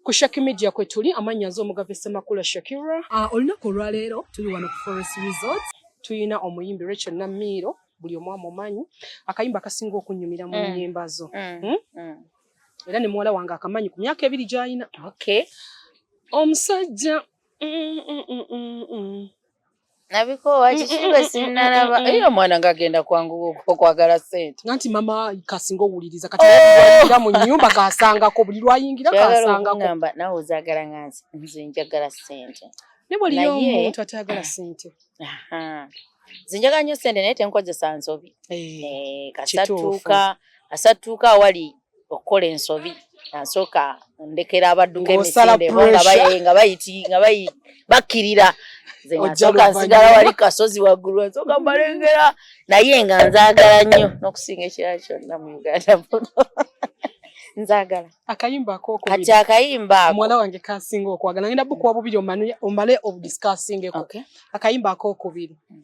Ku Shaki Media kwe tuli, amannya nze Omugave Ssemakula Shakira. Ah, olunaku olwaleero tuli wano ku Forest Resort. Tulina omuyimbi Rachel Namiiro, buli omu amumanyi. Akayimba akasinga okunnyumira mu mm. nnyimba zo. Mm. Hmm? Mm. Era ne muwala wange akamanyi ku myaka ebiri gy'alina. Okay. Omusajja mm, mm, mm, mm, mm. nabikoowa kikibe sinalaba eyo omwana ngagenda kwangu okwagala sente nanti mama kasinga owuliriza kati oh! mu nyumba kasangako buli lwayingira kasangako nawe ozagala nga nze njagala sente nebwaliyomuntu atayagala sente nze njagala nyo sente naye tenkozesa nsobi eh, eh, kasatuuka asatuuka awali okukola ensobi nasooka ndekera abadduka emisinde bo nga bayiti nga bayi bakkirira nze nasooka nsigala wali kasozi waggulu nsooka mbalengera naye nga nzaagala nnyo n'okusinga ekirala kyonna mu uganda muno nzagala akayimba akokubiri kati akayimba ako mwana wange kasinga okwagala ngenda bukuwa bubiri omale obudiscussingeko okay. akayimba akokubiri mm.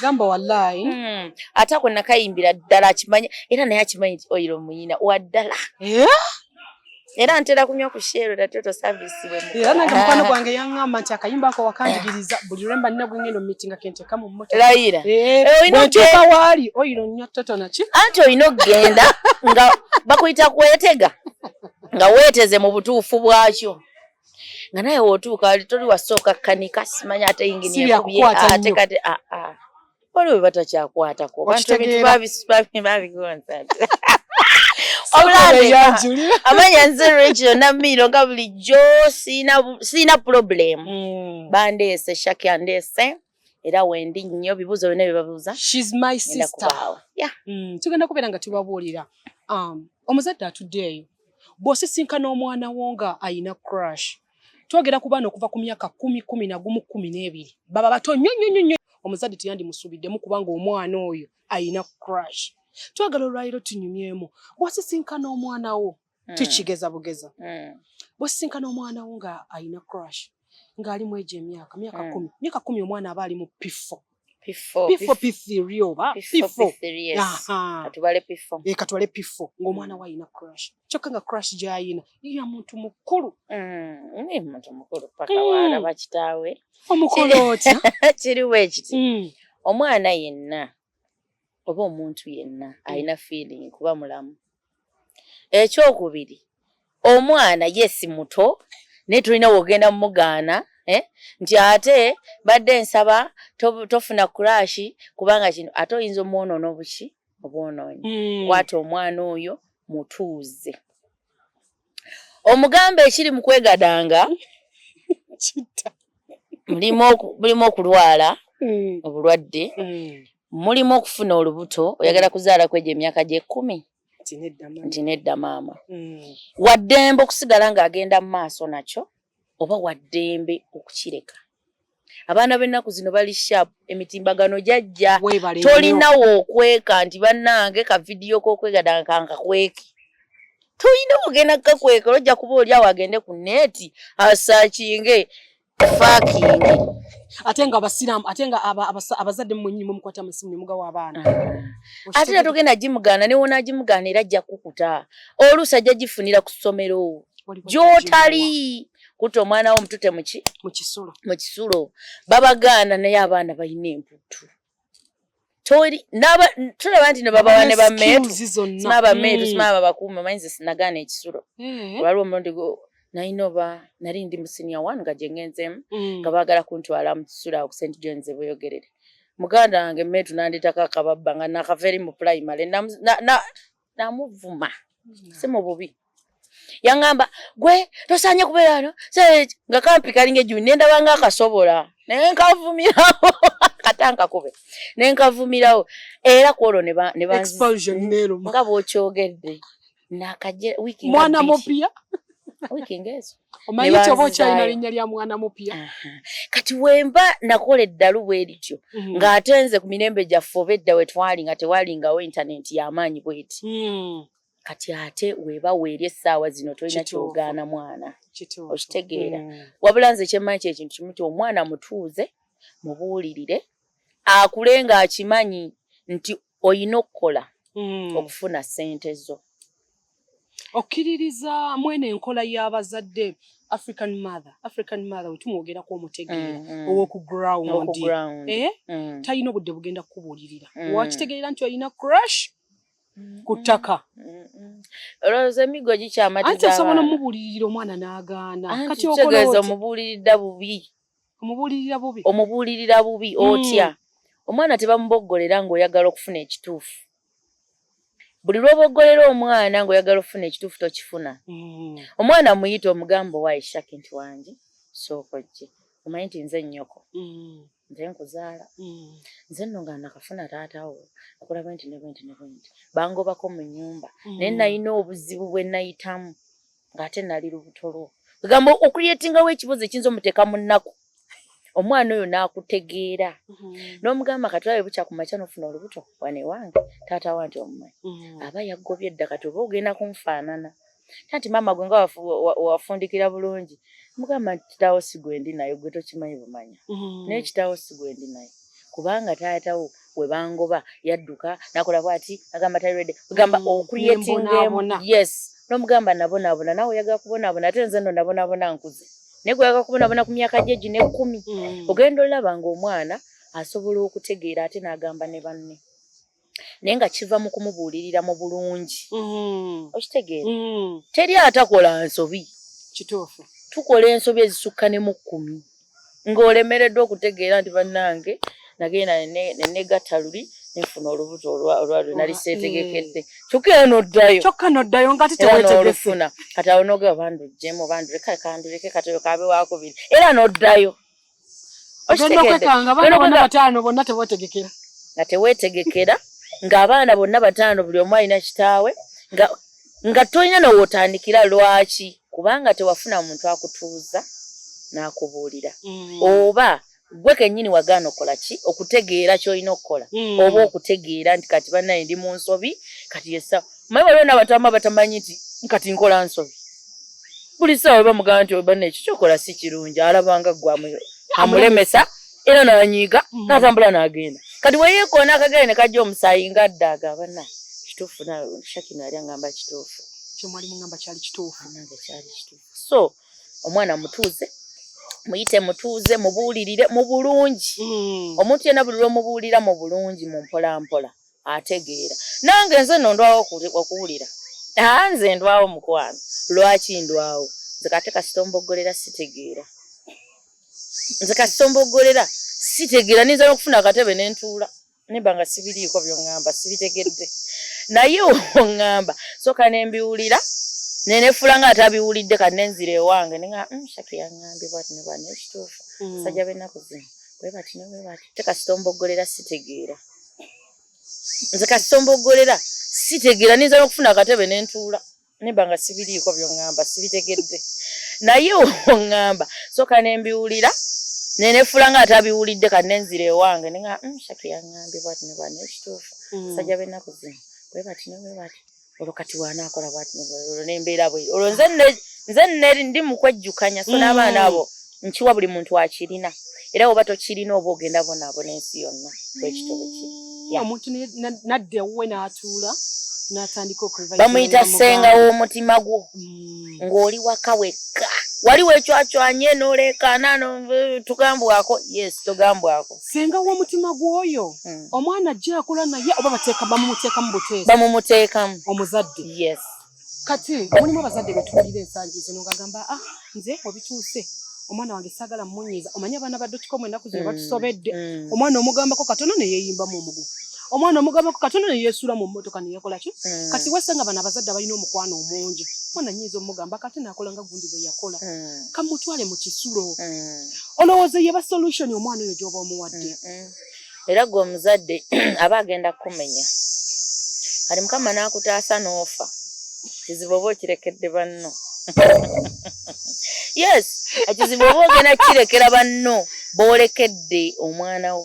gamba wallahi hmm. ate ako nakayimbira ddala akimanya era naye akimanyi ti oyiro muyina waddala eh? era ntera kunywa ku sheero era toto service we era nange mukwano ah. gwange yangamba nti akayimba ako wakanjigiriza buli lwemba nina gwengendo mitinga kenteka mu mmoto layira eh, eh, bwentuuka waali oyiro nnyo toto naki anti olina okugenda nga bakuyita kwetega nga weeteze mu butuufu bwakyo nga naye wotuuka wali toli wasooka kanika simanya ate yinginiate kati aa ah, ah. waliwo bebatakyakwatako bantu ebintu babigonza amanya nze rachel namiiro nga bulijjo siina problem mm. bandeese shaki andeese era wendi nnyo bibuuzo byonna bye babuuza she's my sister yeah mm, tugenda kubeera nga tubabuulira um omuzadde atudde eyo bw'osisinkana omwana wo nga ayina crush twogera ku baana okuva ku myaka kumi kumi na gumu kumi n'ebiri baba bato nnyo nnyo nnyo nnyo omuzadde teyandimusuubiddemu kubanga omwana oyo ayina crush twagala olwaliro tunyumyemu bw'osisinkana omwana wo mm. tukigeza bugeza mm. bwesisinkana omwana wo nga alina crush ng'ali mu egyo emyaka myaka mm. kumi myaka kumi omwana aba ali mu piffo katwale piffo ng'omwana wo alina crush kyokka nga crush gy'alina ya muntu mukulu omukulu otya kiriwo ekiti omwana yenna oba omuntu yenna alina feeling kuba mulamu ekyokubiri omwana yesi muto naye tulina wogenda mumugaana eh? nti ate badde nsaba tofuna to kurashi kubanga kino ate oyinza omwonoona obuki obwonoonyi mm. kwata omwana oyo mutuuze omugamba ekiri mu kwegadanga mulimu okulwala mm. obulwadde mm. mulimu okufuna olubuto oyagala kuzaala kwegyo emyaka gyekumi nti nedda maama mm. waddembe okusigala ng'agenda mu maaso nakyo oba waddembe okukireka abaana b'ennaku zino bali sharp emitimbagano jajja tolinawo okweka nti bannange ka vidiyo k'okwegadanga kankakweke tolina ogenda kukakweka olojja kuba oli awo agende ku neeti asakinge fakinge ate nga abasiraamu ate nga abazadde mwenyini mukwata musimu nemugawa abaana ah. ate era togenda gimugaana newonagimugaana era ajja kukuta oluusi ajja gifunira ku ssomero gyotali kutta omwana wo omutute muki mukisulo mukisulo babagaana naye abaana balina emputtu toli naba tulaba nti nebabawa ne bameetu sima bameetu sima mm. babakuuma manyi ze sinagaana ekisulo mm-hmm. waliwo omulundi gwo nalina oba nali ndi mu siniya one nga gye ngenzemu mm. nga baagala kuntwala mu kisulo awo ku st johns ebweyogerere muganda wange meetu nandetako akababba nga nakava eri mu pulayimale namuvuma si mu bubi yaŋŋamba gwe tosaanye kubeera wano nga kampi kalinga ejjumi ne ndaba nga akasobola naye nkavumirawo kata nkakube ne nkavumirawo era ku olwo nga bw'okyogedde nakajmwana mupya wiiki ng'ezo omanyi kyoba okyalina linnya lya mwana mupya kati wemba nakola eddalu bwe lityo mhm. ng'ate nze ku mirembe gyaffe oba edda we twali nga tewalingawo intanenti y'amaanyi bweti hmm. kati ate weba weeri essaawa zino tolina kyogaana mwana okitegeera hmm. wabula nze kyemmanyi kyekintu kimu ti omwana mutuuze mubuulirire akule ng'akimanyi nti oyina okukola mm. okufuna sente zo okkiririza mwene enkola y'abazadde african mother african mother wetumwogerako omutegeera mm, mm. owoku ground eh? mm. talina obudde bugenda kukubuulirira mm. wakitegeera nti olina crush ku ttaka olowooza emiggo gikyamatiza anti asobola omubuulirira omwana n'agaana kati okolooza omubuuliridda bubi omubuulirira bubi omubuulirira bubi hmm. otya omwana tebamuboggolera ng'oyagala okufuna ekituufu buli lw'oboggolera omwana ng'oyagala okufuna ekituufu tokifuna hmm. omwana muyita omugamba owa ishaki nti wange sooka ojje omanyi nti nze nnyoko hmm. nze nkuzaala nze nno nga nakafuna taatawo akola bwenti ne bwenti ne bwenti bangobako mu nnyumba naye nalina obuzibu bwe nayitamu ng'ate nali lubuto lwo egamba okuyetingawo ekibuzo ekiyinza omuteeka mu nnaku omwana oyo n'akutegeera mhm. n'omugamba kati olabe bukya ku makya n'ofuna olubuto wane wange taata wa nti omumanyi mhm. aba yaggobye edda kati oba ogenda kunfaanana ta nti maama gwe nga wafundikira bulungi mugamba nti kitaawo si gwe ndi naye gwe tokimanyi bumanya mhm. naye kitaawo si gwe ndi naye kubanga taata wo we bangoba yadduka nakola bwati agamba tali ready gamba mm, okreatinga emu yes nomugamba nabonaabona nawe oyaga kubonaabona ate nze no nabonaabona nkuze naye gweyaga kubonaabona ku myaka gye gino ekkumi mm. ogenda olaba ngaomwana asobola okutegeera ate n'agamba ne banne naye nga kiva mu kumubuulirira mu bulungi mm-hmm. okitegeera mm-hmm. teri atakola nsobi kituufu tukola ensobi ezisukka ne mu kkumi ng'olemereddwa okutegeera nti bannange nagenda nenegatta luli nfuna olubuto olwalwe nali mm. seetegekedde kyokka era noddayo kyokka noddayo nga titewetegefuna kati awo noga bandujjemu banduleka kanduleke katoyo kabe wakubiri era noddayo bataano bonna tewetegekera nga tewetegekera ng'abaana bonna bataano buli omu alina kitaawe nga nga tolina nowotandikira lwaki kubanga tewafuna muntu akutuuza n'akubuulira mm. oba gwe kennyini wagaana okola ki okutegeera kyolina okukola mm. oba okutegeera nti kati banaye ndi mu nsobi kati yesa maye waliwo nabatamba batamanyi nti kati nkola nsobi buli ssaawa weba mugamba nti obana ekyo kyokola si kirungi alabanga gwe amulemesa era nanyiiga mm. natambula nagenda kati weyekoona akagere ne kajja omusaayi nga adda agabana kituufu shakino yali angamba kituufu so omwana mutuuze muyite mutuuze mubuulirire mu bulungi mm. omuntu yena buli lwomubuulira mu bulungi mu mpolampola ategeera nange nze no ndwawo okuwulira aa ah, nze ndwawo mukwano lwaki ndwawo nze kate kasita omboggolera sitegeera nze kasita omboggolera sitegeera ninza n'okufuna akatebe ne ntuula nimba nga sibiriiko byoŋŋamba sibitegedde naye oŋŋamba soka ne mbiwulira nenefula nga atabiwulidde kati nenzira ewange ninga mm, shaki yaŋŋambye bwati ne bwani ekituufu mm. sajja b'ennaku zino bwe bati ne bwe bati te kasita omboggolera sitegeera nze kasitombogolera sitegeera ninza nokufuna akatebe nentuula nemba nga sibiriiko byoŋŋamba sibitegedde naye oŋŋamba soka nembiwulira nenefula nga atabiwulidde kati nenzira ewange nea mm, shatu yaŋŋambye bwati nebwani ekituufu mm. sajja bennaku zino bwebati nebwebati olwo kati bwanaakola bwati olwo nembeera bwe olwo nze nze neri ndi mukwejjukanya so n'abaana mm. abo nkiwa buli muntu akirina era oba tokirina oba ogenda bonaabona ensi yonna bwekitobe kiri omuntu nadda ewuwe n'atuula n'atandika okulva bamuyita ssenga w'omutima gwo mm. ng'oli waka wekka wali wecwacwanye noleekaana tugambwako yes tugambwako senga womutima gwoyo hmm. omwana ajja akula naye oba bateeka bamumuteekamu buteesi bamumuteekamu omuzadde yes kati mulimu abazadde betuwulira ensangi zino ngagamba ah nze obituuse omwana wange sagala munyiiza omanye abaana badotikomu enaku zino mm, batusobedde mm. omwana omugambako katono neyeyimbamu omugu omwana omugabako katono ne yeesuula mu mmotoka ne yakola ki mm. kati wasanga bano abazadde abalina omukwano omungi mwana nyinza omugamba kate naakola nga gundi bwe yakola mm. kamutwale mu kisulo mm. olowooza yeba solution omwana oyo gy'oba omuwadde era gwe omuzadde aba agenda kukumenya kati mukama n'akutaasa n'ofa kizibu oba okirekedde banno yes ekizibu oba ogenda kirekera banno boolekedde omwana wo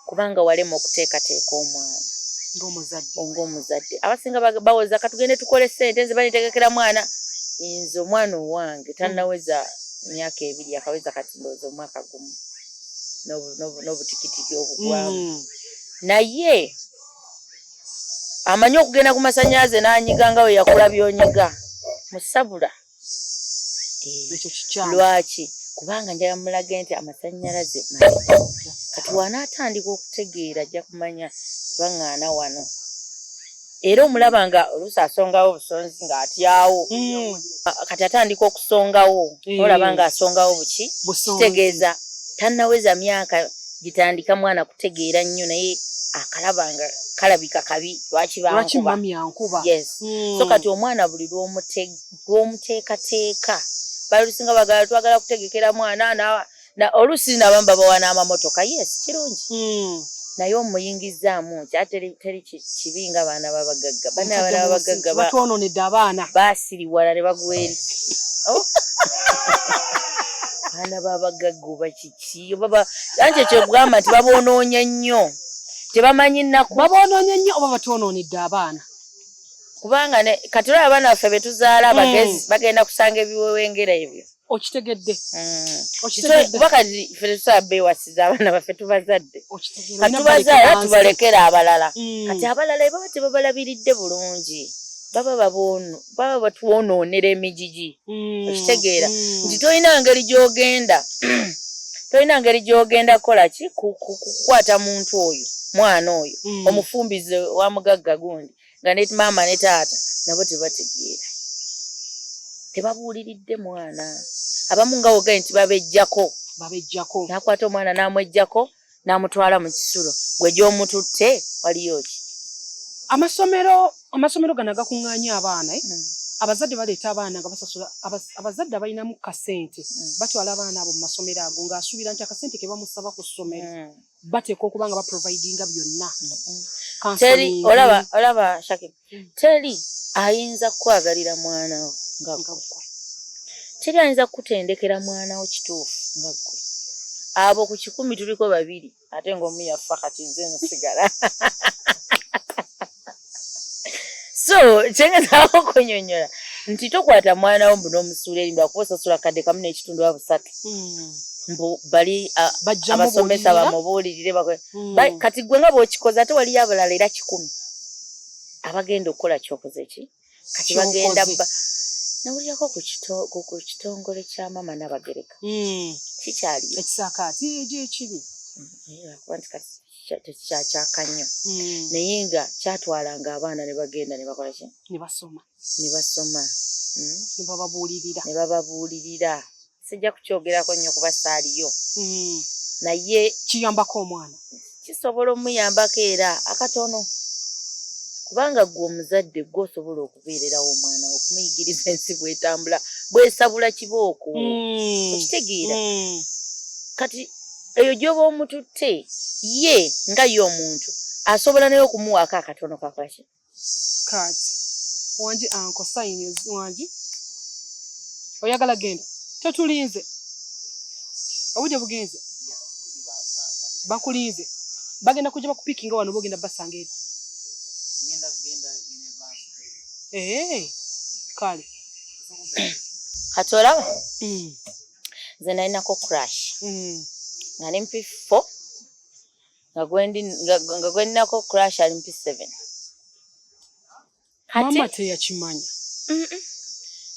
kubanga walema okuteekateeka omwana ngaomuzadde abasinga bawoza katugende tukole sente nze banitegekera mwana nze omwana owange tanaweza myaka ebiri akaweza kati ndowooza omwaka gumu n'obutikitiki obugwamu mm. naye amanyi okugenda ku masanyalaze nanyiga nga weyakula byonyiga musabula eh, lwaki kubanga njala mulage nti amasanyalaze kati wanaatandika okutegeera ajja kumanya baŋŋaana wano era omulaba nga oluusi asongawo obusonzi ng'atyawo hmm. kati atandika okusongawo eh. olaba ng'asongawo buki kitegeeza tannaweza myaka gitandika mwana kutegeera nnyo naye akalaba nga kalabika kabi lwaki bamyankuba hmm. so kati omwana buli lw'omutega gw'omuteekateeka balusinga bagala twagala kutegekera mwana oluusi nabamu babawa n'amamotoka yes kirungi hmm. naye omuyingizzaamu nti ate teri kibi nga baana babagagga bana abaana babagagga batwononedde abaana basiriwala ne bagweri oh. baana babagagga oba kiki obaba anti ekyo kugamba nti babonoonya nnyo tebamanyi nnaku babonoonya nnyo oba batwononedde abaana kubanga kati olaba abaana baffe betuzaala mm. abagezi bagenda kusanga ebiwewengera ebyo okitegedde mm. kuba kati fe tetusobola bewasiza abaana baffe tubazadde katubazaala tubalekera abalala mm. kati abalala ebaba tebabalabiridde bulungi baba baba batwonoonera emijiji mm, okitegeera mm. nti tolina ngeri gyogenda tolina ngeri gyogenda kukola ki kukwata muntu oyo mwana oyo mm. omufumbize wa mugagga gundi nga ne maama ne taata nabo tebategeera tebabuuliridde mwana abamu nga wogae nti babejjako babejjako nakwata omwana namwejjako n'amutwala mu kisulo gwe gy'omututte waliyo ki amasomero amasomero gano agakuŋŋaanya abaana eh? mm. abazadde baleeta abaana nga basasula abazadde abalinamu kasente mm. batwala abaana abo mu masomero ago ng'asuubira nti akasente ke bamusaba ku ssomero mm. bateekwa okuba nga baprovidinga byonna mm. olaba shakib teri ayinza kukwagalira mwana wo nga ggwe teri ayinza kukutendekera mwana wo kituufu nga ggwe abo ku kikumi tuliko babiri ate ng'omu yaffa kati nze nsigala so kyengezaako okunyonyola nti tokwata mwana wo mbu n'omusuula eri mbakuba osasula kadde kamu n'ekitundu wa busatu hmm. mbu bali abasomesa bamubuulirire hmm. kati ggwe nga bw'okikoze ate waliyo abalala era kikumi abagenda okukola kyokoze ki kati bagenda nawulirako ku kitongole kya maama nabagereka hmm. kikyali ekisaakaati egyo ekibi lwakuba nti kati tekikyakyaka nnyo hmm. naye nga kyatwalanga abaana ne bagenda ne bakola ki ne basoma ne basoma hmm? ne bababuulirira ne bababuulirira sijja kukyogerako nnyo kuba saaliyo hmm. naye kiyambako omwana kisobola omuyambako era akatono kubanga gwe omuzadde gwe osobola okubeererawo omwana okumuyigiriza ensi bwetambula bwesabula kibooko hmm. okitegeera hmm. kati eyo gyoba omututte ye nga ye omuntu asobola naye okumuwaako akatono kakaki mm. Kati wangi anko sayini wangi oyagala genda totulinze obudde bugenze bakulinze bagenda kujja bakupikinga wano bogenda basanga eri ee eh, kale kati olaba hmm. nze nalinako crash hmm. nga nempifo nga gweninako crash ali mpi seven mama teyakimanya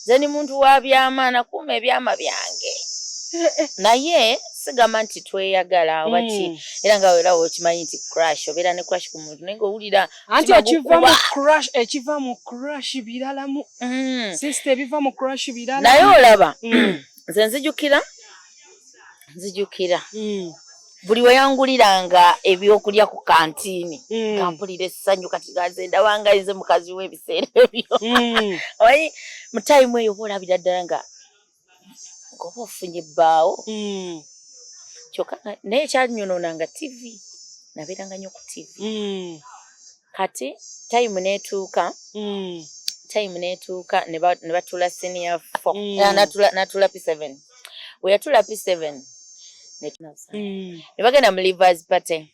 nze ni muntu wa byama nakuuma ebyama byange eh, eh. naye sigamba nti tweyagala oba ki hmm. era nga era okimanyi nti crash obeera ne crash ku muntu naye ngaowulira anti ekiva mu crash ekiva mu crash biralamu hmm. sisita ebiva mu crash birala naye olaba hmm. nze nzijukira nzijukira mm. buli weyanguliranga ebyokulya ku kantiini mm. kampulira essanyu kati gaze ndabanga nze mukazi w'ebiseera ebyo mm. omanyi mu tayimu eyo oba olabira ddala nga ngoba ofunye bbaawo mm. kyokka naye ekyanyonona nga tivi nabeeranga nyo ku tivi mm. kati time netuuka mm. time netuuka nebatula senior fo mm. ah, natula p seven weyatula p seven mm. nebagenda mu livers party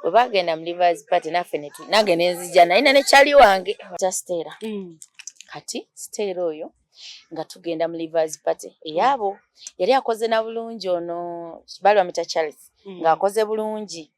webagenda mu livers party naffe nange nenzija nayina nekyali wange kya stera kati stera oyo nga tugenda mu livers party eyaabo yali akoze na bulungi ono balwamita charles ngaakoze bulungi mm.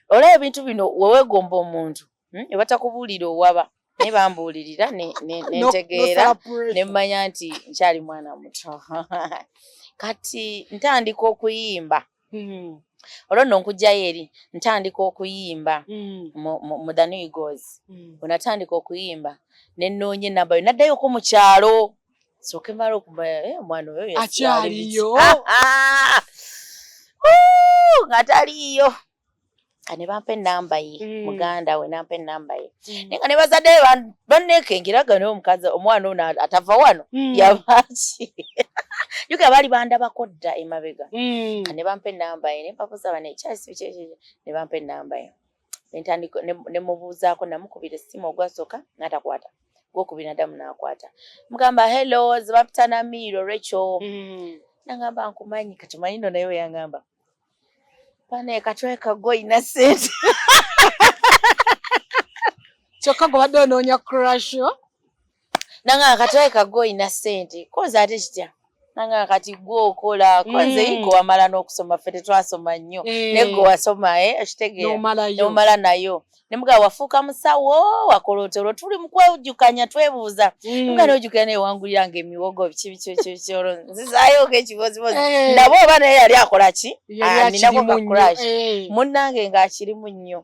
olaba ebintu bino wewegomba omuntu hmm, ebatakubuulira owaba naye bambuulirira nentegeera nemmanya nti nkyali mwana muto kati ntandika okuyimba hmm. olwo nno nkugjayo eri ntandika okuyimba hmm. mu the new goes onatandika okuyimba nenoonya enamba yo naddayoko mu kyalo soke mara okumanya eh, omwana oyo akyaliyo ah, ah. ngataliyo kane bampa enamba ye mm. muganda we nampa enamba ye mm. naye nga ne bazadde banneekengeraga naye omukazi omwana ono atava wano mm. yabaki yuka baali bandabako dda emabega mm. ne bampa enamba ye ne mpabuza bane ekyasi bikyekye ne bampa enamba ye nentandika nemubuuzaako namukubira essimu ogwasooka natakwata gwokubiri nadamu nakwata mugamba hello zibapita na miiro recho mm. nangamba nkumanyi kati manyi no naye weyangamba pane katwe kago ina sente kyokka gobadde onoonya crasho nanga akatale kago olina ssente kozi ate kitya nanga kati gwe okola kwanze mm. gwe wamala n'okusoma ffe tetwasoma nnyo mm. naye gwe wasoma e eh, okitegeeranomala nayo nemuga wafuuka musawo wakola oti olwo tuli mukwejukanya twebuuza mm. nga nojukira naye wangulira nga emiwogo biki bikikikolo nzizayooga ekibozibozi eh. nabo oba naye yali akola ki aninako ah, kakuraki eh. munnange ng'akirimu nnyo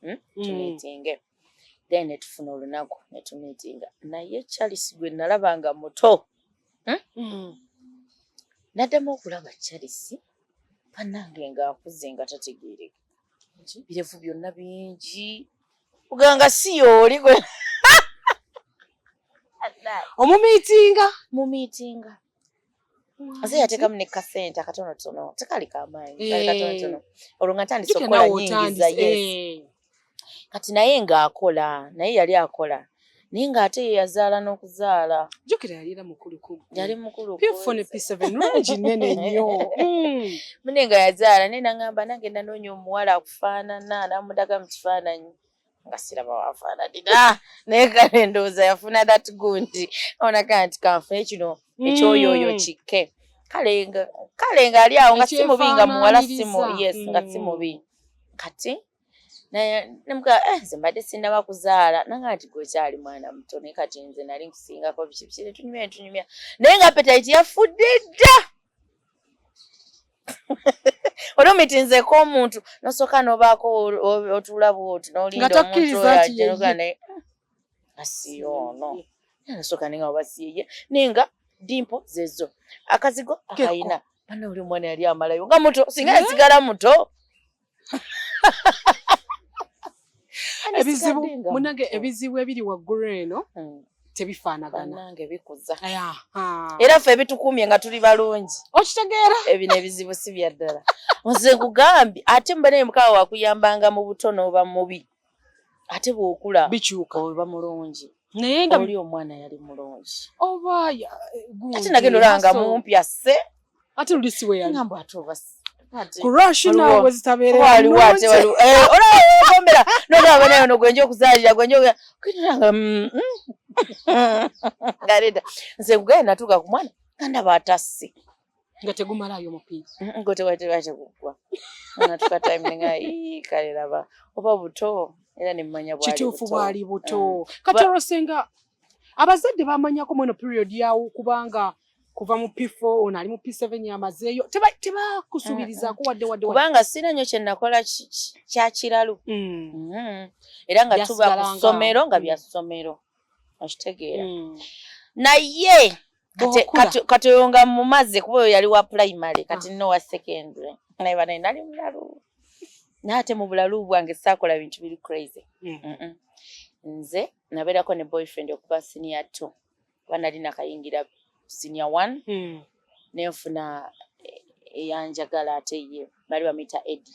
hmm? mm. tumitinge then netufuna olunaku netumitinga naye charles gwe nalaba nga muto hmm? mm. naddamu okulaba charles banange nga akuze nga tategeereka birevu byonna bingi oganga si yooli gwe omumitinga mumitinga ase yatekamu ne kasente akatono tono tekali kamaanyi eh. kali katono tono olwo nga ntandise okukola nyingiza yes eh. kati naye nga akola naye yali akola naye nga ate ye yazaala n'okuzaala jukira yali era mukulu yali mukulu pfone pisa benungi nene nnyo hmm. mune nga yazaala naye nangamba nagenda noonya omuwala akufaanana namudaga mu kifaananyi nga siraba wafaananira naye kale ndowooza yafuna that gundi onaka nti kanfune kino hmm. ekyoyooyo kikke kale kale ngaali awo nga si mubi nga muwala simu yes nga si hmm. mubi kati nemuga eh, nze mbadde sinnaba kuzaala nanga nti gwekyali mwana muto naye kati nze nali nkusingako biki biki netunyumya netunyumya naye nga petayiti yafudde dda oli omitinzeeko omuntu nosooka nobaako otuula bwoti nolinda omuntu oyo ajenuga naye asiyo ono nasooka ninga obasiye naye nga dimpo zezo akazigo akayina bana oli omwana yali amalayo nga muto singa yasigala muto ebizibu munange ebizibu ebiri waggulu eno hmm. tebifaanaganange bikuza era ffe ebitukumye nga tuli balungi okitegeera ebino ebizibu si byaddala nze nkugambye ate mubanaye mukaawa wakuyambanga mu buto n'oba mubi ate bw'okula bikyuka oba mulungi naye nga oli omwana yali mulungi oba oh, ate nagenda olanga mumpi asse ate luli siwe yali ngamba ate obasi kurashinawezitaberaolawomera nolaba naye ono gwenja okuzalira gwenja kwitiranga ngareda nze kugaye natuuka ku mwana kandaba atasi nga tegumalaayo mupiira gwe tewatera teguggwa natuka time nenga ii kale laba oba buto era nemmanya bwali kituufu bwali buto mm. kati olwo senga abazadde bamanyako mweno period yawo kubanga kuva mu P4 ono ali mu P7 yamazeeyo tebakusuubirizaako wadde wadde kubanga sina nnyo kye nakola kya kiralu mm. mm-hmm. era nga tuba ku ssomero nga bya ssomero okitegeera mm. naye kati oyo nga mumaze kuba oyo yali wa primary ah. kati no wa secondary naye banaye nali mulalu naye ate mu bulalu bwange saakola bintu biri crazy hmm. nze nabeerako ne boyfriend okuba siniya two kuba nali nakayingira siniya one hmm. nenfuna eh, eyanjagala ate ye bali bamuyita edi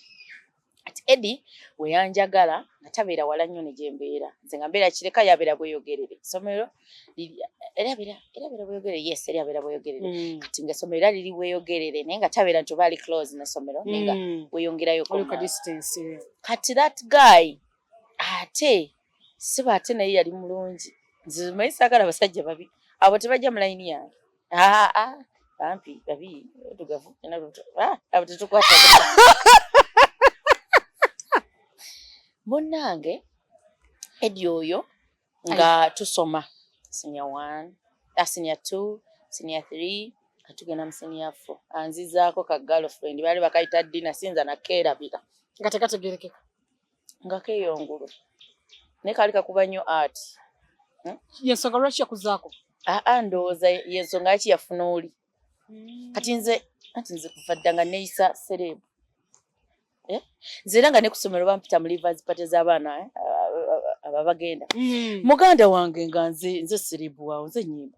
ati edi weyanjagala nga tabeera wala nnyo ne gyembeera nze nga mbeera kireka yabeera bweyogerere esomero bweyogerere yes era abeera bweyogerere mm. kati nga esomero era liri bweyogerere naye nga tabeera nti oba ali close nesomero naye nga mm. weyongerayo kati that guy ate siba ate naye yali mulungi nze mayi saagala abasajja babi abo tebajja mu layini yange Ah, ah, bampi babi otugavu ena luto ah, abo tetukwata munnange edi oyo nga tusoma senior one ah, senior two senior three katugenda mu senior four anzizaako ka girlfriend baali bakayita dina sinza nakeerabira nga tekategerekeka nga keyongulu naye kaali kakuba nnyo art hmm? yensonga lwaki yakuzaako aa ah, ah, ndowooza yensonga yaki yafuna oli hmm. kati nze anti nze kuva dda nga neyisa serebu eh? nze era nga nekusomero bampita mu livers pate z'abaana eh? ababagenda hmm. muganda wange nga nze nze serebu waawo nze nyimba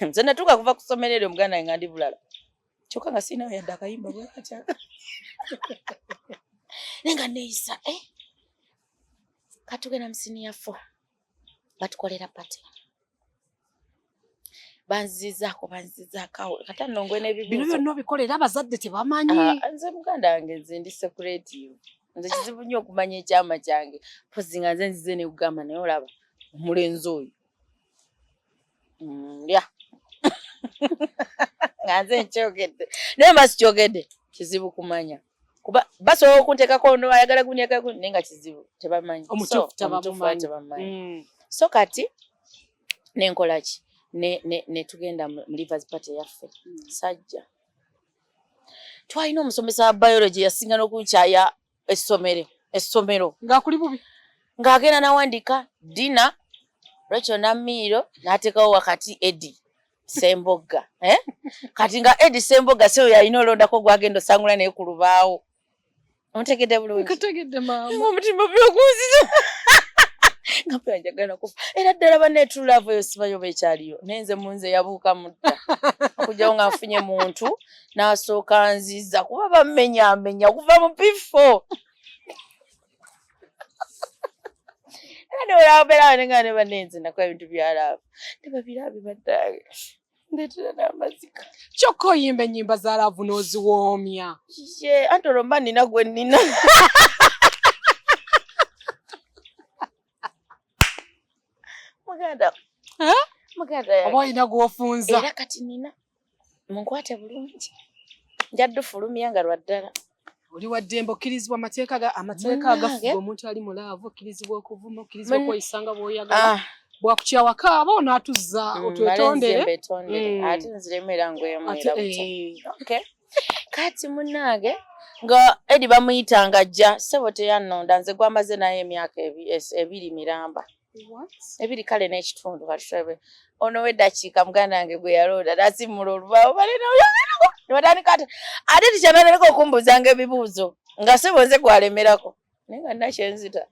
nze natuuka kuva ku ssomero eryo muganda nga ndi bulala kyokka nga siinawo yadde akayimba bwekatya naye nga neeyisa eh? katugenda musiniya fo batukolera pate banzizaako banzizaako awo kata nongwe nebibuzo bino byonna obikolera abazadde tebamanyi ah, nze muganda wange nze ndi sekuretiyo nze kizibu nnyo okumanya ekyama kyange pozi nga nze nzize nekugamba naye olaba omulenzi oyo ndya nga nze nkyogedde naye mba sikyogedde kizibu kumanya kuba basobola okunteekako no ayagala gunyaka naye nga kizibu tebamanyi omutuufu tebamanyi mm. so kati nenkola ki netugenda mu livers party yaffe mm. sajja twalina omusomesa wa biology yasinga nokunkyaya essomero essomero nga kuli bubi ng'agenda nawandika dina lwekyo namiiro n'ateekawo wakati edi sembogga eh? kati nga edi sembogga seyo yalina olondako gwagenda osangula naye ku lubaawo omutegedde bulungiomutima byokunzira nga mpe anjagala kufa era ddala baneetululaavu eyo sibayoba ekyaliyo naye nze munze yabuuka mutta okugyawo ng'afunye muntu n'asooka nziza kuba bammenyamenya kuva mu piffo ne olabera ne nga ne banenze nako ebintu byalaba ne babirabi baddaage ndetera n'amazika kyokka oyimba ennyimba za laavu n'oziwoomya ye anti olwo mba nina gwe nina muganda muganda oba olina gwofunza era kati nina munkwate bulungi nja dufulumya nga lwa ddala oli waddembe okkirizibwa amateeka ga amateeka agafuga omuntu ali mu laavu okkirizibwa okuvuma okkirizibwa okweyisa nga bw'oyagala ah. bwakukyawaka aba onaatuzza mm, otwetondere mm. ate nziremu era ngwemwera eh. kati munnange nga edi bamuyitanga jja ssebo teyannonda nze gwamaze naye emyaka ebiri miramba ebiri kale n'ekitundu katulabe ono wedakiika muganda wange gwe yalooda nasimula olubaawo balenewatandika ati ate tikyananaleka okumbuuzanga ebibuuzo nga sebo nze gwalemerako naye nga nakyenzita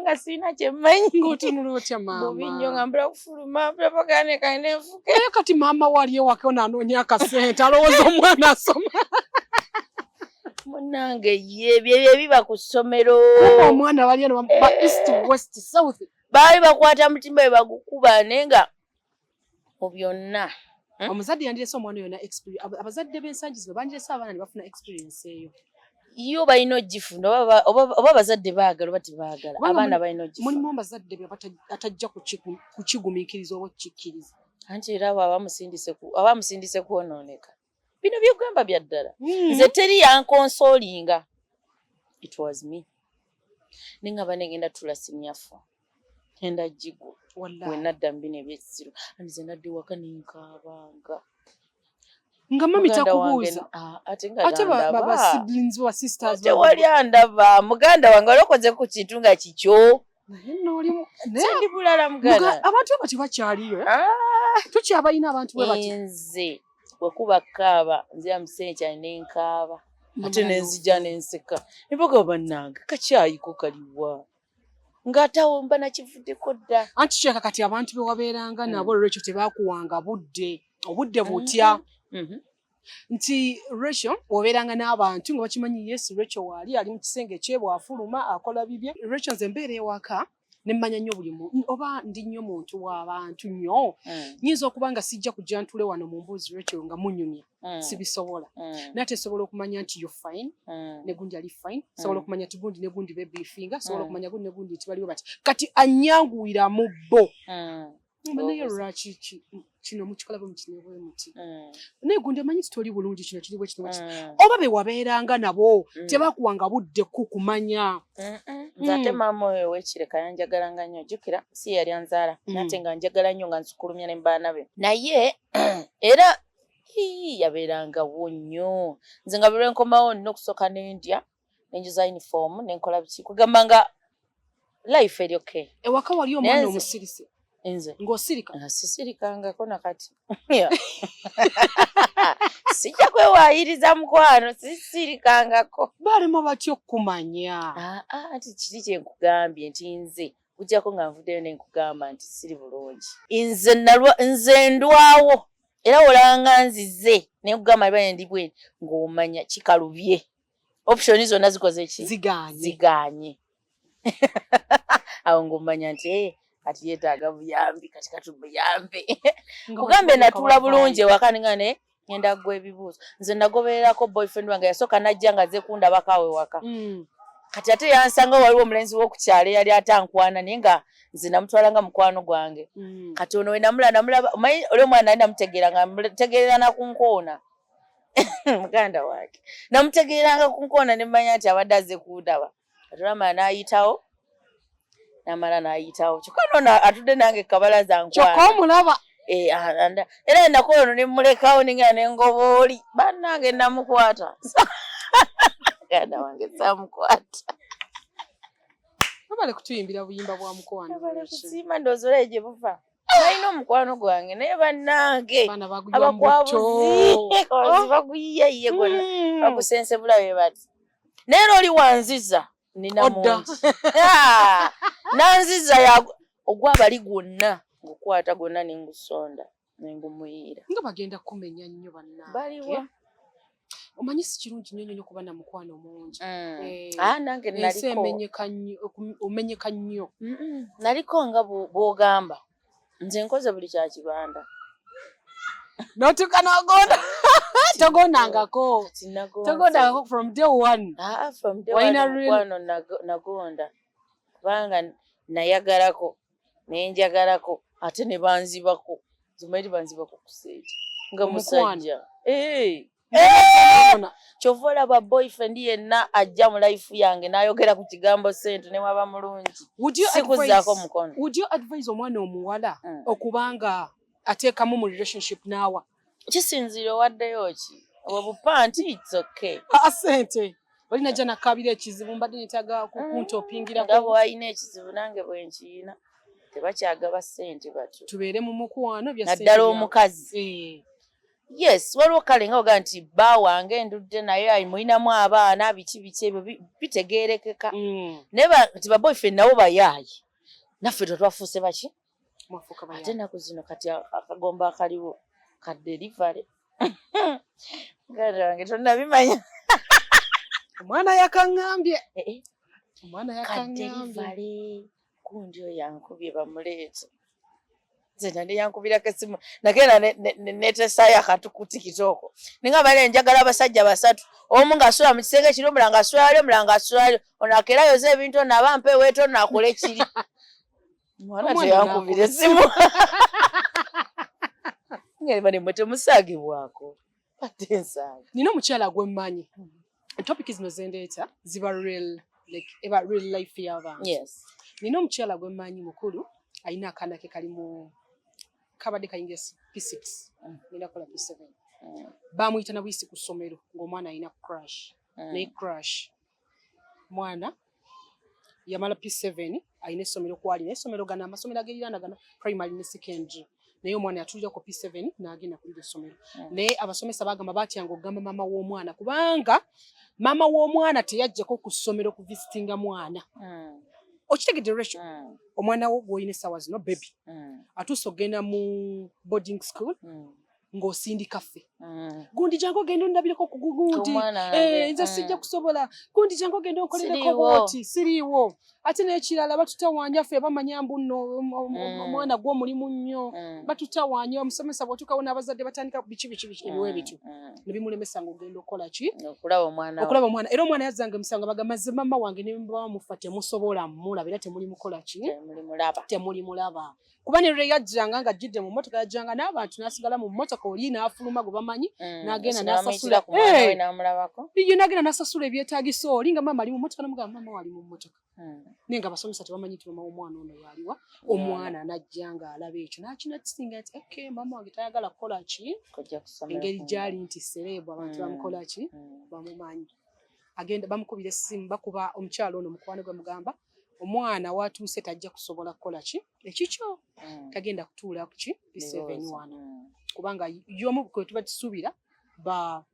nga sirina kyemmanyi ngotunula otya maamabubi nnyo nga mbula kufuluma mbula pagane kaine nfuke kati maama wali ewake onaanoonya akasente alowooza omwana asoma munange ye byebyo ebiba ku ssomero omwana wali eno ba east west south baali bakwata mutima we bagukuba naye nga mu byonna hmm? omuzadde yandirese omwana yona abazadde b'ensangi zino bandirese abaana ne bafuna experience eyo yo balina ogifuna oba abazadde baagala oba tebaagala abaana balina ogifuna mulimu abazadde atajja kukigumiikiriza oba okukikkiriza anti era abo abamusindise kwonooneka bino byogamba bya ddala hmm. nze teri yankonsolinga it was me ninga banegenda tula sinyafu enda jigo wenadda mbino ebyekisiru anze nadde waka ninkaabanga nga mami takubuuza ah, ate babasiblings wa sisters tewali andaba muganda wange wali okoze ku kintu nga kikyo naye nolimu abantu abo tebakyaliyo eh? ah! tukyabalina abantu nze wekuba kaaba nzira mukiseera kyali nenkaaba ate nenzija nenseka nibaga bannange kakyayiko kaliwa ng'atawo mba nakivuddeko dda anti kyeka kati abantu bewabeeranga nabo mm. olwekyo tebakuwanga budde obudde butya mm-hmm. Mm-hmm. nti ratio obeeranga n'abantu nga bakimanyi yesu ratio waali ali mu kisenge kyebwe afuluma akola bibye ratio nze mbeera ewaka nemmanya nnyo buli muntu oba ndi nnyo muntu w'abantu nnyo mm. nyinza okuba nga sijja kujja ntule wano mu mbuuzi ratio nga munyumya mm. sibisobola mm. naye tesobola okumanya nti yo fine negundi ali fine sobola okumanya ti gundi negundi bebifinga sobola okumanya gundi negundi nti baliwo bati kati anyanguwira mu bo naye lwaki kino mukikola bwe mukine bwe muti mm. naye gundi amanyi titoli bulungi kino kiri bwe kino mm. oba be wabeeranga nabo mm. tebakuwanga budde ku kumanya nze ate maama oyo owekireka yanjagalanga nnyo jukira si yali anzaala nate nga njagala nnyo nga nsukulumya ne mubaana be naye era yabeerangawo nnyo nze nga bwe lwenkomawo nina okusooka n'endya nenjuza uniform nenkola biki kugamba nga life eri okay ewaka wali omwana omusirise enze ng'osirika nga sisirikangako na kati sijja kwewaayiriza mukwano sisirikangako balema batya okukumanya ah, ah, anti kiri kye nkugambye nti nze kujjako nga nvuddeyo ne nkugamba nti siri bulungi nze nze ndwawo era olanga nzize ne nkugamba liba endi bweni ng'omanya kikalubye option zonna zikoze ki ziganye ziganye awo ngomanya nti eh, kati yetaaga buyambi kati kati buyambi kugambe natuula bulungi ewaka ninga ne ngenda kugwa ebibuuzo nze nagobererako boyfriend wange yasooka najja nga ze kundabako awo ewaka mm. kati ate yansanga waliwo omulenzi wokukyalo eyali atankwana naye nga nze namutwala nga mukwano gwange mm. kati ono wenamula namulaba omanyi oli omwana nali namutegeera nga mutegeerera nakunkoona muganda wange namutegeeranga ku nkoona ne mmanya nti abadde aze kuudaba atulama n'ayitawo namala n'ayitawo kyokka nono atudde nange kabala zankyoka omulaba eh, era enakola ono ne mmulekawo ninga ne ngobooli bannange namukwata muganda wange samukwata abale kutuyimbira buyimba bwa mukowanobale kusiima ndoozi olaye gye buva balina omukwano gwange naye bannange abakwabuzi baguyiye ye gona hmm. bagusensebula be bati naye era oli wanziza nina mungi nanziza ogwabali gwonna ngukwata gwonna nengusonda nengumuyiira nga bagenda kumenya nnyo bannange baliwa omanyi si kirungi nnyo nnyo kuba na mukwano mungi mm. eh, ah, nange ensi omenyeka nnyo naliko nga bw'ogamba nze nkoze buli kya kibanda notuka nogonda togondangako togondangako from day one ah, ah, nagonda kubanga nayagalako nenjagalako ate ne banzibako zimairi banzibako kusente nga musajja eh! Eh! kyova olaba boyfriend yenna ajja mu life yange nayogera ku kigambo sente newaba mulungi sikuzaako mukono omwana omuwala mm. okubanga ateekamu mu relationship naawa kisinziira owaddeyo ki obwo bupanti its okay aa ah, sente oli najja nakabira ekizibu mbadde netaga kukuntopingira nga bwalina ekizibu nange bwenkiyina tebakyagaba sente batyo tubeere mu mukwano naddala omukazi eh. yes waliwo kale nga oga nti bba wange ndudde naye ayimulinamu abaana biki biki ebyo bitegeerekeka mm. naye nti baboyfriend nabo bayaaye naffe tetwafuuse baki ate naku zino kati akagomba akaliwo ka delivery ngarange tonabimanya omwana yakangambye eh, eh. omwana yakangambye kundi oyo yankubye bamuleete nze nande yankubirako esimu nagenda netesayo akantu kutikitoko ninga bale njagala abasajja basatu omu ngaasula mu kisenge kiri omulanga asulaali omulanga asulaali ono akerayoza ebintu ono aba mpeweeta ono akole kiri mwana teyankubira esimu ngeri bane mwe temusagibwako ate ensaagi nina omukyala gwemmanyi hmm. topic zino zendeeta ziba real like eba real life y'abantu yes nina omukyala gwemmanyi mukulu alina akaana ke kali mu kabadde kayinga p6 hmm. nina kola p7 hmm. bamuyita na buyisi ku ssomero ng'omwana alina crash naye crash mwana yamala P7 alina essomero kwali naye essomero gana amasomero ageriraana gana primary ne secondary naye omwana yatulira ku P7 n'agenda kulira essomero hmm. naye abasomesa bagamba batyanga okugamba maama w'omwana kubanga maama w'omwana teyajjako ku ssomero ku visitinga mwana hmm. okitegedde ratio hmm. omwana wo gwolina essaawa zino bebi atuuse okugenda mu boarding school ng'osindika ffe mm. gundi jangu ogenda ondabireko ku gundi eh, nze mm. sijja kusobola gundi jangu ogenda onkolereko bwoti siriiwo ate n'ekirala batutawaanya ffe bamanya mbu nno mm. omwana gwe omulimu nnyo batutawaanya omusomesa bw'otuukawo n'abazadde batandika biki biki biki ebiwa ebityo ne bimulemesa ng'ogenda okukola ki okulaba omwana era omwana yazzanga emisango baga mazze mama wange ne baba mufa temusobola mulaba era temuli mukola ki temulimulaba kuba ne lwe yajjanga nga jjidde mu mmotoka yajjanga n'abantu n'asigala mu mmotoka oli n'afuluma gwe bamanyi mm, n'agenda n'asasula eh! ye n'agenda n'asasula ebyetaagisa oli nga maama ali mu mmotoka namugamba maama wali mu mmotoka mm. naye nga abasomesa tebamanyi nti maama w'omwana ono waaliwa omwana n'ajja nga alaba ekyo n'akinakisinga nti ok maama wange tayagala kukola ki engeri gyali nti sereebu abantu mm. bamukola ki bamumanyi agenda bamukubira essimu bakuba omukyalo ono mukwano gwe mugamba omwana watuuse tajja kusobola kukola ki ekikyo mm. tagenda kutuula kuki biseven wana mm. kubanga yomu kwetuba tusuubira ba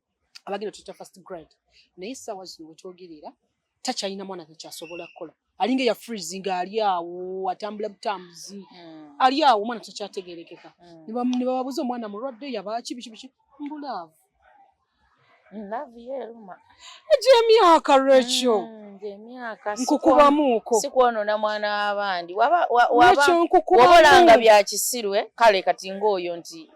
abagenda tuta first grade naye essaawa zino wetwogerera takyalina mwana takyasobola kukola alinga eya freezing ali awo atambula butambuzi mm. ali awo omwana takyategerekeka mm. nebababuza omwana mulwadde yabaaki biki biki mbulaavu Love ye eruma. Gy'emyaka Rachel. Mm, gy'emyaka. Nkukubamuuko. Si kwonoona mwana w'abandi. Waba waba wabolanga bya kisiru eh? kale kati ng'oyo nti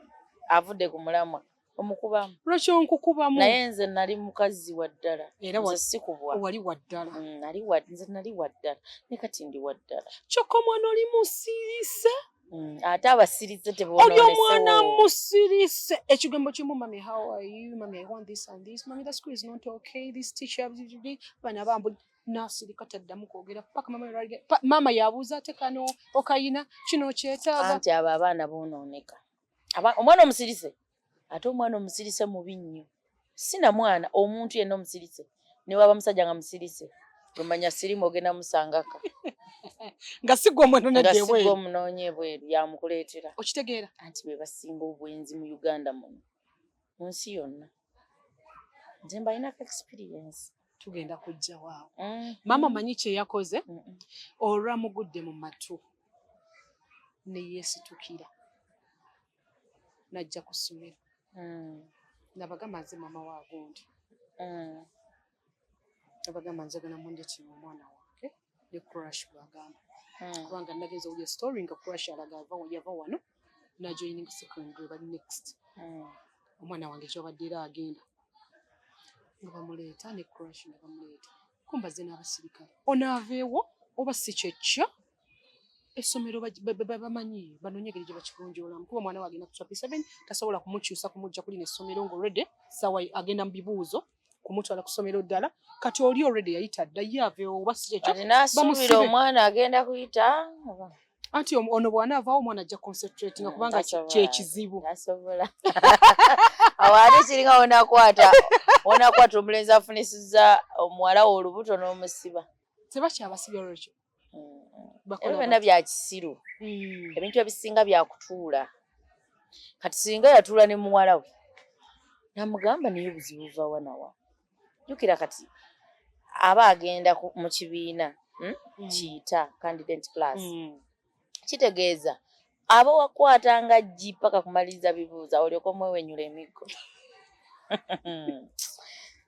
avudde ku mulamwa. Omukubamu. Rachel nkukubamu. Naye nze nali mukazi wa ddala. Era wa sikubwa. Wali wa ddala. Mm, nali wa nze nali wa ddala. Ne kati ndi wa ddala. Kyokka omwana oli musirise. Mm, ate abasirise teboonoonese oyo omwana musirise ekigambo kimu mami how are you mami i want this and this mami the school is not okay this teacher bana bambu nasirika taddamu kwogera paka mama yaraga mama yabuuza ate kano okayina kino kyetaaga anti abo abaana boonooneka omwana omusirise ate omwana omusirise mubi nnyo sina mwana omuntu yenna omusirise newaba musajja nga musirise omanya sirimu ogenda musangaka nga sigwa omunonedsigwa omunonya ebweru yamukuleetera okitegeera anti bebasinga obwenzi mu uganda muno mu nsi yonna nze mbalinako experience tugenda kujja waawo mm. maama manyi kyeyakoze olwamugudde mu matu neyesitukira najja ku ssomero mm. nabagamba nze mama wa gundi mm. nabagamba njagala mundekire omwana wange ne crash bwagamba mm. kubanga nagenza okulya story nga crash alaga yava wano najoining secondary bali next omwana wange kyobadde era agenda nga bamuleeta ne crash nga bamuleeta kumbaze n'abasirikale onaaveewo oba si kyekyo essomero bamanyi banonye engeri gye bakigonjoolamu kuba omwana wagenda ku chapter seven tasobola kumukyusa kumujja kulina essomero nga olredy sawa agenda mu bibuuzo kumutwala ku ssomero ddala kati oli olredy yayita dda ye aveewo oba si kyekyo bamusibe omwana agenda kuyita anti ono bw'anaavaawo omwana ajja concentrate nga mm, kubanga kyekizibu asobola awo ate kiringa wonakwata wonakwata omulenzi afunisiza omuwala wo olubuto n'omusiba tebakyabasibya lwekyo ebyo byonna bya kisiru hmm. ebintu ebisinga bya kutuula kati singa yatuula ne muwala we namugamba naye obuzibu vawanawa jukira kati aba agenda mu kibiina hmm? mm. kiyita candidate class mm. kitegeeza aba wakwata nga jji paka kumaliriza bibuuza olyoka omwewenyula emiggo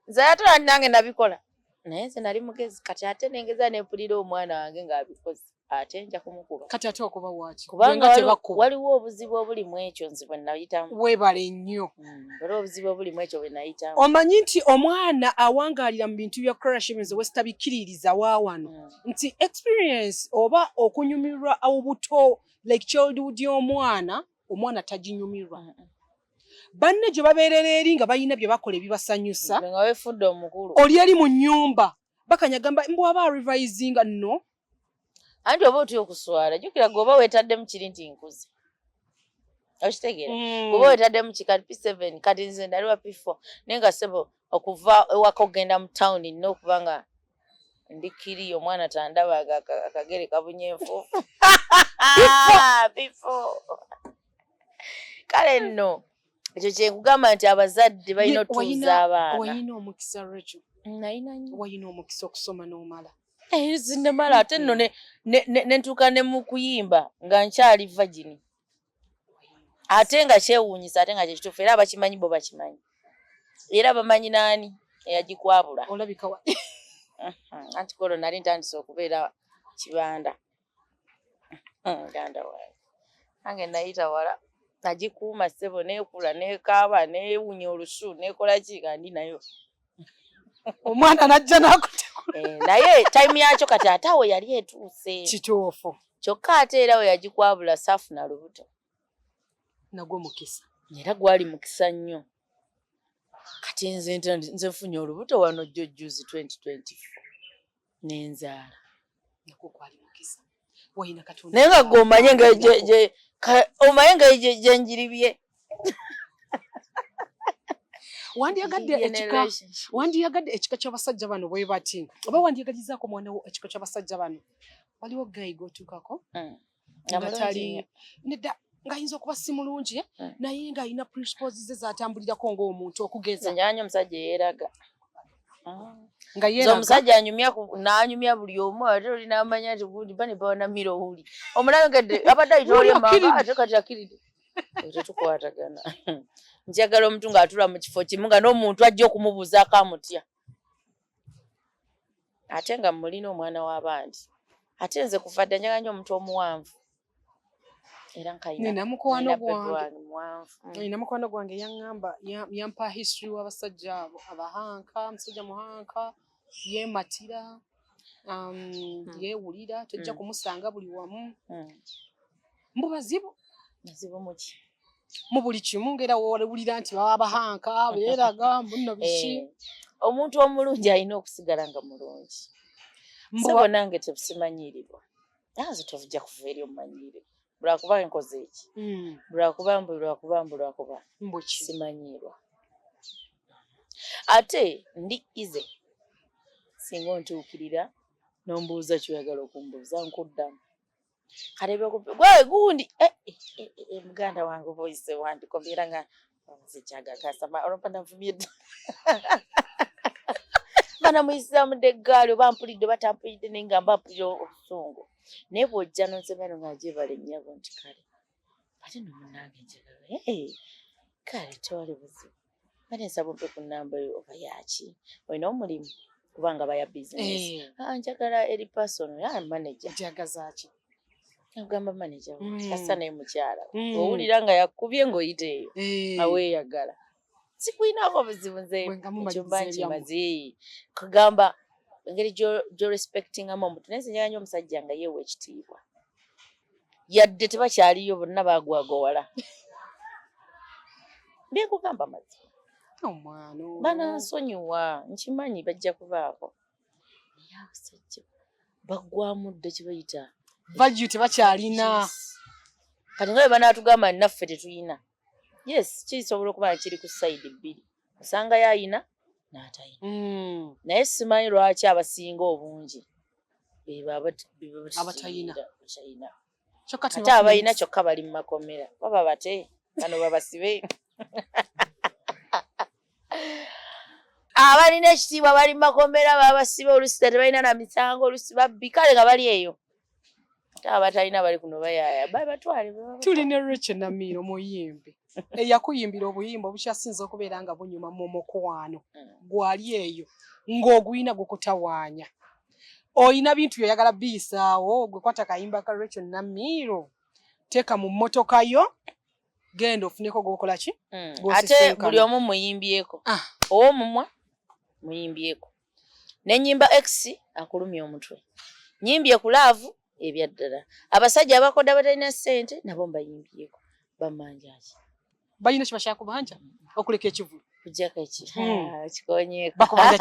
nze ate nange nabikola naye nze nali mugezi kati ate nengeza nempulira omwana wange ng'abikoze ate nja kumukuba kati ate okuba waki kubanga waliwo obuzibu obuli mu ekyo nze bwe nayitamu weebale nnyo hmm, waliwo obuzibu obuli mu ekyo bwe nayitamu omanyi nti omwana awangaalira mu bintu bya crashims wesitabikkiririza waawano hmm. nti experience oba okunyumirwa obuto like childhood y'omwana omwana taginyumirwa mm -mm. banne gye babeerera eri nga balina bye bakola ebibasanyusa oli eri mu nnyumba bakanyagamba mbwaba revisinga no anti oba otya okuswala jukira gwe oba wetaddemu kiri nti nkuze okitegeera mm. kuba wetaddemu ki kati p seven kati nze ndaliwa p four naye nga sebo okuva ewaka okugenda mu tawuni nina okuba nga ndi kiri omwana tandaba akagere kabunye enfuufu bifo kale nno ekyo kyekugamba nti abazadde balina otuuza abaana nalina omukisa okusoma n'omala Eh, zinemala ate nno nentuuka ne mu kuyimba nga nkyali vagini ate nga kyewuunyisa ate nga kyekituufu era abakimanyi bo bakimanyi era bamanyi naani eyagikwabula olabika wa anti kolo nali ntandise okubeera kibanda hmm, muganda wange nange nayita wala nagikuuma ssebo nekula nekaaba newunya olusu nekola ki kandi nayo omwana najja nakutekula eh, naye time yakyo kati ate awo yali etuuse kituufu kyokka ate era we yagikwabula saafuna lubuto nagwo mukisa era gwali mukisa nnyo kati nze nze nfunye olubuto wano jjo jjuzi 2024 nenzaala naye nga gwe omanye nga omanye nga gyenjiribye wandiyagadde ekika wandiyagadde ekika ky'abasajja bano bwe bati oba wandiyagalizaako omwana wo ekika ky'abasajja bano waliwo gayi gwotuukako mm. nedda ng'ayinza okuba si mulungi eh? hmm. naye ng'alina principles ze zatambulirako ng'omuntu okugeza nyanyo omusajja eyeraga ah. nga yera omusajja anyumya n'anyumya buli omu ate oli n'amanya nti gundi bane bawanamira owuli omulabe nga abadde ayita oli emanga ate kati akiride tetukwatagana njagala omuntu ng'atula mu kifo kimu nga n'omuntu ajja okumubuuzaako amutya ate nga mulina omwana w'abandi ate nze kuva dda njagala nyo omuntu omuwanvu era nkalina mukwano gwange mm. yaŋŋamba yampa history w'abasajja abo abahanka musajja muhanka yeematira um, hmm. yeewulira tojja hmm. kumusanga buli wamu hmm. mbu bazibu bazibu muki mu buli kimu ngera wowulira nti baba bahanka beeraga mbunno biki eh, omuntu omulungi alina okusigala nga mulungi sebo nange tebusimanyiiribwa nanze tovujja kuva eri omumanyiire lwakuba enkoze eki hmm. lwakuba mbu lwakuba mbu lwakuba simanyiirwa ate ndi ize singa ontuukirira nombuuza kyoyagala okumbuuza nkuddamu karebe ku gwe gundi eh, eh, eh, eh, eh, muganda wange oba oyise wandikomera nga nzijaga kasama olompa navumye dda bana muyisizamu dde eggaali oba mpulidde oba tampulidde naye nga mba mpulira obusungu naye bw'ojja nonsomero nga gyebale nnyabo nti kale ate no munange njagala eh, kale tewali buzibu kale nsaba ompe ku namba yo oba yaki olina omulimu kubanga baya bizinesi eh. ah, njagala eri pasono ya maneja njagazaki agamba maneja hmm. asa naye mukyala hmm. owulira nga yakubye ngaoyita eyo aweeyagala sikulinaako buzibu nze ekyumba nkimaze kugamba engeri gyorespectingamu omuntu naye nzinyala nyo omusajja nga yeewa ekitiibwa yadde tebakyaliyo bonna bagwagowala byekugamba mazima oh, banansonyiwa nkimanyi bajja kubaako naye abasajja baggwamu dda kibayita value tebakyalina kati nga bwe banaatugamba naffe tetuyina yes kisobola okuba nga kiri ku sayidi bbiri osangayo ayina n'atayina mm. naye simanyi lwaki abasinga obungi bebabatayina ate abalina kyokka bali mu makomera baba bate bano babasibe abalina ekitiibwa bali mu makomera babasibe olusi tebalina na misango olusi babbi kale nga bali eyo abatalina bali kuno bayaaya babatwale tulina rachel namiiro muyimbi eyakuyimbira obuyimba obukyasinza okubeera nga bunyuma mu mukwano mm. gwali eyo ng'oguyina gukutawaanya oyina bintu byoyagala biyisaawo gwe kwata kayimba ka rachel namiiro teeka mu mmotoka yo genda ofuneko gwokola ki mm. ate buli omu muyimbyeko ah. owomumwa muyimbyeko nenyimba x akulumya omutwe nyimbye ku laavu ebyaddala abasajja abakoda batalina sente nabo mbayimbyeko bamanjaki balina kibashakubanja okuleka ekivulu kujjako ekikikonyekakubanja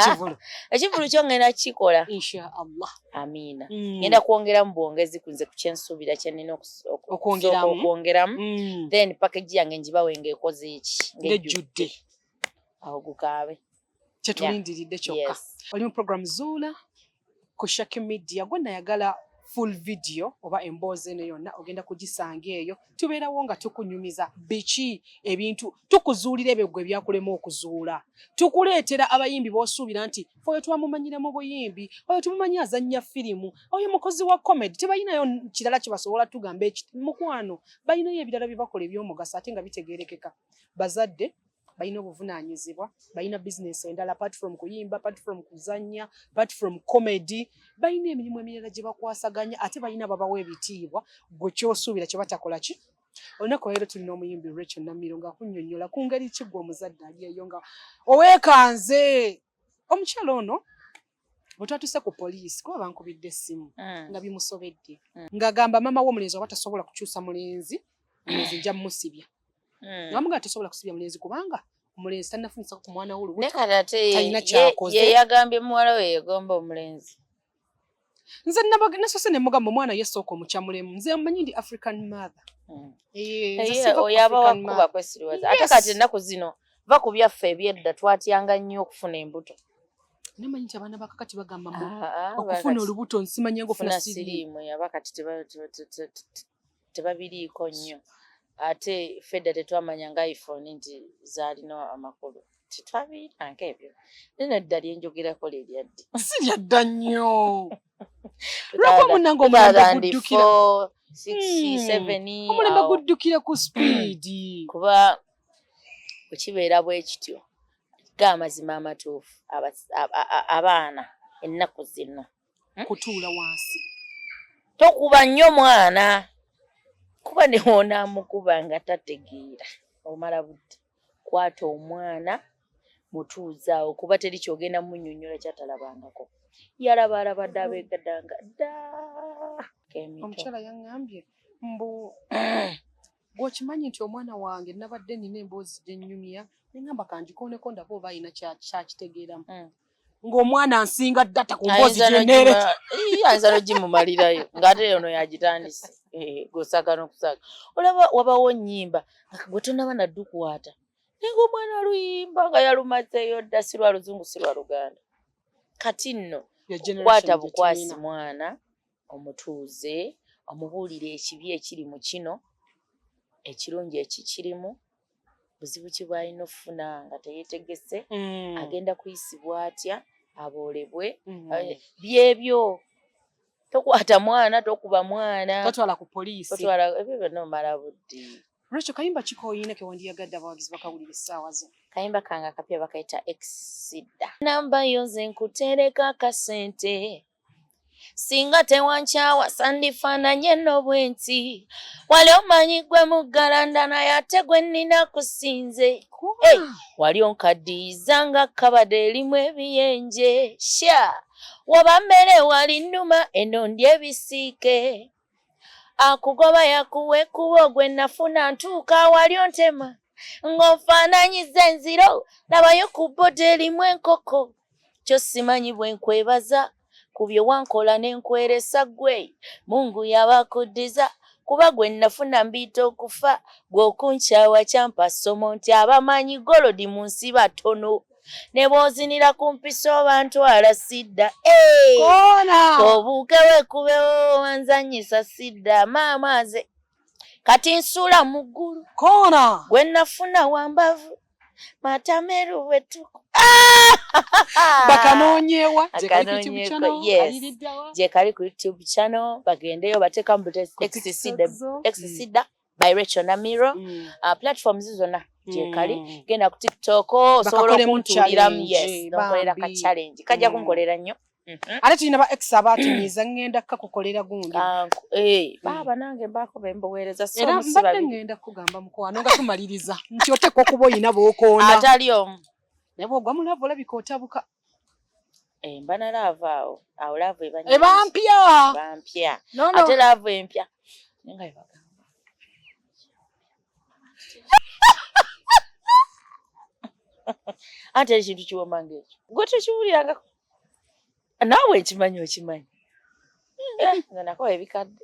ekivulu kyo ngenda kukikola inshaallah amiina hmm. ngenda kwongera mu bwongezi kunze ku kyensuubira kyenina okwongeramu hmm. then pakeji yange njibawe ngaekoze eki ngejjudde awo gukaabe kyetulindiridde kyokka oli mu program zuula ku shaki media gwe nayagala full video oba emboozi eno yonna ogenda kugisanga eyo tubeerawo nga tukunyumiza biki ebintu tukuzuulira ebyo gwe byakulema okuzuula tukuleetera abayimbi b'osuubira nti oyo twamumanyira mu buyimbi oyo tumumanyi azannya firimu oyo mukozi wa comedy tebalinayo kirala kye basobola tugamba mukwano balinayo ebirala bye bakola eby'omugaso ate nga bitegeerekeka bazadde balina obuvunaanyizibwa balina bizinesi endala apart from kuyimba apart from kuzannya apart from comedy balina emirimu emirala gye bakwasaganya ate balina babawa ebitiibwa gwe kyosuubira kye batakola ki olunaku leero tulina omuyimbi rachel namiro nga kunyonyola ku ngeri ki gwe omuzadde ali eyo nga oweekanze omukyala ono bwe twatuuse ku poliisi kuba bankubidde essimu mm. nga bimusobedde mm. ng'agamba maama w'omulenzi oba tasobola kukyusa mulenzi mulenzi nja musibya mm. nga mugaa tasobola kusibya mulenzi kubanga omulenzi tanafunisako ku mwana wolutalina kyakoze yeyagambye muwala we yegomba omulenzi nze nasose ne mugamba omwana ye sooka omukyamulemu nze mmanyi ndi african mother hmm. eh, oyaba wakuba kwesiriwaza ate kati ennaku zino va ku byaffe ebyedda twatyanga nnyo okufuna embuto namanyi nti abaana bakakati bagamba mbu ah, ah, okufuna olubuto nsimanya ngofuna siriimu yaba kati tebabiriiko nnyo ate fedda tetwamanya nga iphone nti zaalina amakulu tetwabiyiranka ebyo naye nadda lyenjogerako leryaddi si lyadda nnyo lwako munange omulembe guddukira hmm. omulembe guddukira ku sipiidi kuba bwekibeera bwekityo ga amazima amatuufu abaana ennaku zino hmm? kutuula wansi tokuba nnyo mwana kuba newonaamukuba nga tategeera omala budde kwata omwana mutuuzaawo kuba teri kyogenda munyonyola kyatalabangako yalaba alaba dda abegadanga dda omukyala yaŋambye mbu gwokimanyi nti omwana wange nabadde nina emboozi gyenyumya nengamba kanjikooneko ndaba oba alina kyakitegeeramu mm. ng'omwana nsinga data ku mboozi gyeneereayinza nogimumalirayo ngaate ono yagitandise eh, gosaka nokusaka olaba wabawo nyimba gwe tonaba naddukwata naye ngaomwana aluyimba nga yalumazeyo dda si lwa luzungu si lwa luganda kati nno kwata bukwasi mwana omutuuze omubuulire ekibi ekiri mu kino ekirungi ekikirimu buzibu ki bwalina okufuna nga teyetegese mm. agenda kuyisibwa atya aboolebwe mm. eh, byebyo tokwata mwana tokuba mwana totwala ku poliisi totwala ebyo byonna omala budde Rachel kayimba kikoyina ke wandiyagadde abawagizi bakawulira essaawa zino kayimba kange akapya bakayita exida namba yo nze nkutereka akasente singa tewankyawa sandifaananye no bwe nti wali omanyi gwe muggalanda naye ate gwe nnina kusinze hey, wali onkaddiyiza nga kkabada erimu ebiyenje sha waba mmere wali nnuma eno ndi ebisiike akugoba yakuwa ekkubo gwe nafuna ntuuka wali ontema ng'onfaananyiza enziro labayo ku boda erimu enkoko kyo simanyi bwe nkwebaza ku bye wankola ne nkweresa ggwe mungu yabakuddiza kuba gwe nafuna mbiita okufa gwe okunkyawa kyampa ssomo nti abamanyi golodi mu nsi batono ne bw'ozinira ku mpisa oba ntwala sidda koona obuuke wekubewo wanzanyisa sidda maama aze kati nsuula mu ggulu koona gwe nafuna wambavu matameru wetuku bakanoonyewa gyekali ku youtube channel bagendeyo bateekamu butexcida mm. by Rachel Namiro mm. uh, platforms zona gyekali mm. genda ku TikTok osobola okuntuliramu yes nokolera ka challenge kajja mm. kunkolera nnyo Mm-hmm. ate tulina ba ex abatumiza ngenda kakukolera gundi ah, eh, mm. baaba nange mbaako bembuweereza era mbadde ngenda kugamba mukwano nga tumaliriza nti oteekwa okuba oyina bookoona atali omu naye bwogwa mulavu olabika otabuka Eh, mbana laavu awo awo laavu ebampya bampya ate laavu empya nga ebagamba ate ekintu kiwoma ngaekyo gwe tokiwulirangako naawe ekimanyi okimanyi eh, nga nakowa ebikadde